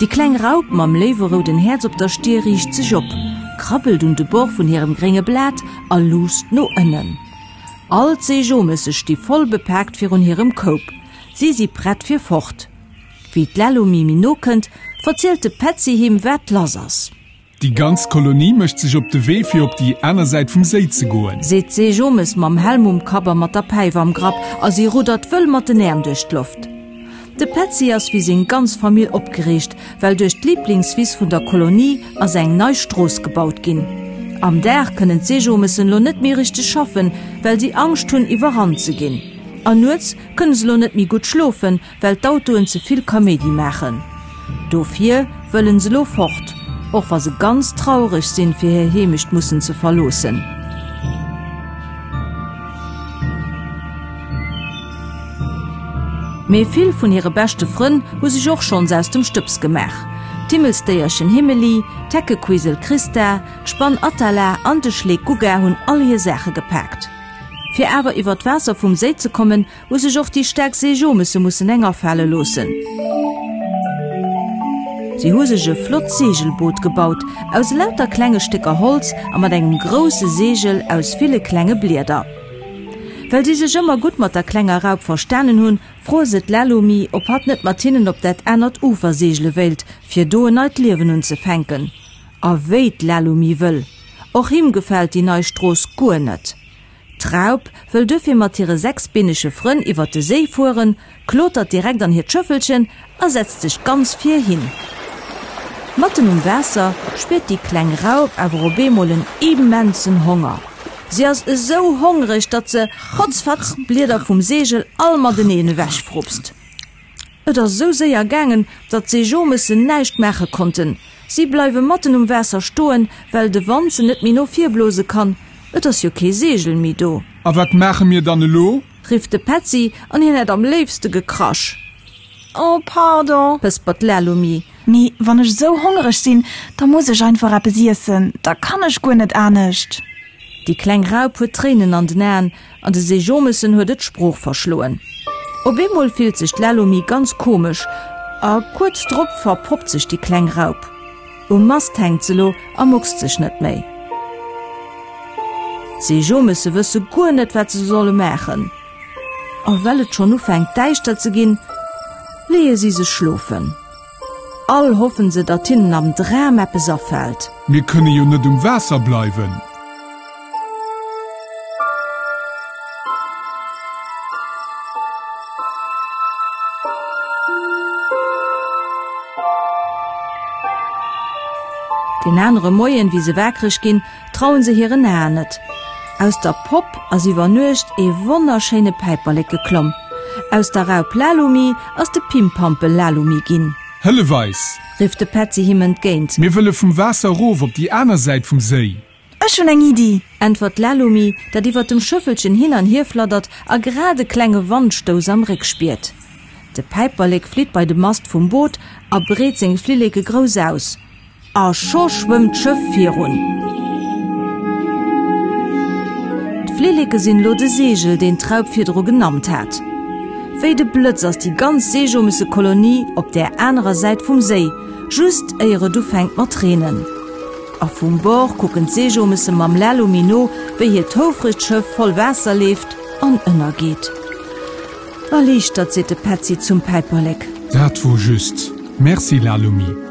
Déi kleng Raup mam léiwe rouden Häerz op der Stir riicht sech op, krabbelt un de Bord vun hirem grénge Blat a luusst no ënnen. All d'Seejomësse sti voll bepaakt virun hirem Koup, si si prett fir fort. Wéi d'Lello Mimi nokënnt, verzielt de Petzi him, wat lass ass. Déi ganz Kolonie mécht sech op de Wee, fir op déi aner Säit vum Séi ze goen. Seet d'Seejomes mam Helm um Kapp a mat der Päif am Grapp, a si ruddert wëll mat den Äerm duerch d'Loft. De Petzi ass wéi seng ganz Famill opgereegt, well duerch d'Liblingswiss vun der Kolonie ass eng nei Strooss gebaut ginn. Am Dag kënnen d'Seejomesen lo net méi richteg schaffen, well si Angscht hunn, iwwerrannt ze ginn. A nuets kënne se lo net méi gutt schlofen, Well d'Autoen ze vill Kaméidi maachen. Dofir wëllen se lo fort, och wa se ganz traureg sinn fir hir Heemecht mussen ze verloossen. Mee vill vun hire beschte Frënn hu sech och schonns aus dem Stëbs gemaach. D'Himmelsdéierchen Himmeli, d'Heckequisel Christa, d'Spann Atala an de Schleek Gugga hunn all hir Saache gepaakt. Fir awer iwwer d'Waasser vum Séi ze kommen, Hu sech och déi staark Seejomessen mussen eng afale loossen. Si hu sech e flott Seegelboot gebaut, aus elauter klenge Stécker Holz a mat engem grousse Seegel aus ville klenge Blieder. Well si sech ëmmer gutt mat der klenger Raup verstanen hunn, froe se d'Lalomi, ob hatt net mat hinnen op dat anert Ufer seegele wéilt, fir do en neit Liewen unzefänken. A wéi d'Lalomi wëll! Och him gefält déi nei Strooss guer net. D'Raup wëll duerfir mat hire sechs beenege Frënn iwwert de Séi fueren, klotert direkt an hiert Schëffelchen a setzt sech ganz vir hin. Matten um Waasser spiert déi kleng Raup awer op eemol en immensen Honger. Si ass esou hongreg, datt se, Hotz fatz, d'Blieder vum Segel all mateneen ewechfrupst. Et ass esou séier gaangen, datt d'Seejomëssen näischt maache konnten. Si bleiwe matten um Waasser stoen, well de Wand se net méi no vir blose kann, et ass jo kee Seegel méi do. A wat maache mir dann elo? Rifft de Petzi, an hien hätt am léifste gekrasch. Oh, pardon! Pëspert d'Lalomie. Mee wann ech esou hongereg sinn, da muss ech einfach eppes iessen, da kann ech guer net anescht. Déi kleng Raup huet Tréinen an den Aen. An de Sejomessen huet et d'Sprooch verschloen. Op eemol fillt sech d'Lalomi ganz komesch a kuerz drop verpoppt sech déi kleng Raup. Um Mast hänkt se lo a muckst sech net méi. D'Sejomesse wësse guer net, wat se solle maachen. A well et schonn ufänkt däischter ze ginn, leeë si sech schlofen. All hoffen se, datt hinnen am Dram eppes afällt. Mir kënne jo net um Waasser bleiwen. Deen anere Moien, wéi se wakereg ginn, Trauen se hiren Aen net. Aus der Popp ass iwwer Nuecht ee wonnerschéine Päiperlek geklomm. Aus der Raup Lalumi ass de Pimpampel Lalumi ginn. Hëllef eis! Rifft de Petzi him entgéint. Mir wëlle vum Waasser erof op déi aner Säit vum Séi. Ech hunn eng Iddi! Äntwert d'Lalumi, dat iwwer dem Schëffelchen hin an hier fladdert a grad e klenge Wandstouss am Réck spiert. De Päiperlek flitt bei de Mast vum Boot a breet seng Flilleke grouss aus. A scho schwëmmt d'Schëff virun. D'Flilleke sinn elo de Seegel, deen d'Raup virdru genammt hat. Wéi de Blëtz ass déi ganz Seejomisse-Kolonie op där anerer Säit vum Séi, just éier et ufänkt mat reenen. A vum Bord kucken d'Seejomisse mam Lälumi no, wéi hiert houfregt Schëff voll Waasser leeft an ënnergeet. Erliichtert, seet de Petzi zum Päiperlek. Dat wor just. Merci Lalumie.